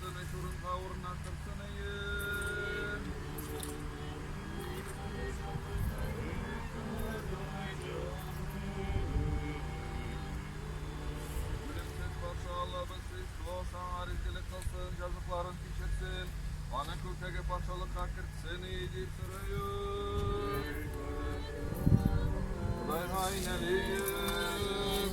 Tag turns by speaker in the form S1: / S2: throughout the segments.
S1: Тыныч урынга урнаштыр сыныен. Үлемсез патша Аллабыз Христос аңа ризгелек кылсын, җазыкларын кичерсен, аны күктәге патшалыкка кертсен и, дип сорыйм. Кудайга инәлим.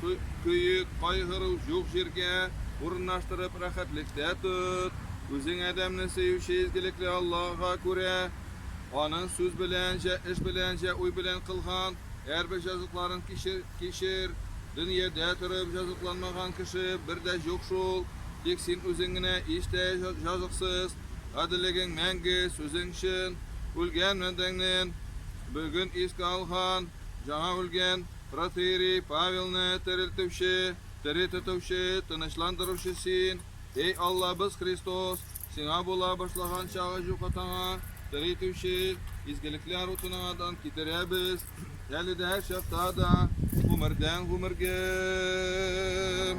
S1: Көе, кайгыру җук җиргә урынлаштырып рәхәтлектә тот. Үзең адәмне сөюче изгелекле Аллаһыга күрә, Аның сүз белән җә, эш белән җә, уй белән кылган әрбер җазыкларын кичер, кичер. Дөньядә торып җазыкланмаган кеше бер дә җук шул. Тик син үзең генә ич тә җазыксыз. Гаделлегең мәңге, сүзең чын. Үлгән бәндәңнен, бүген искә алган, җаңа үлгән. Протоиерей Павелны терелтүче, тере тотучы, тынычландыручы Син, Эй Аллабыз Христос, Сиңа була башлаган чагы җук атаңа, терелтүче, изгелекләр утыныңадан китерәбез, әле дә һәр чакта да, гомердән гомергем.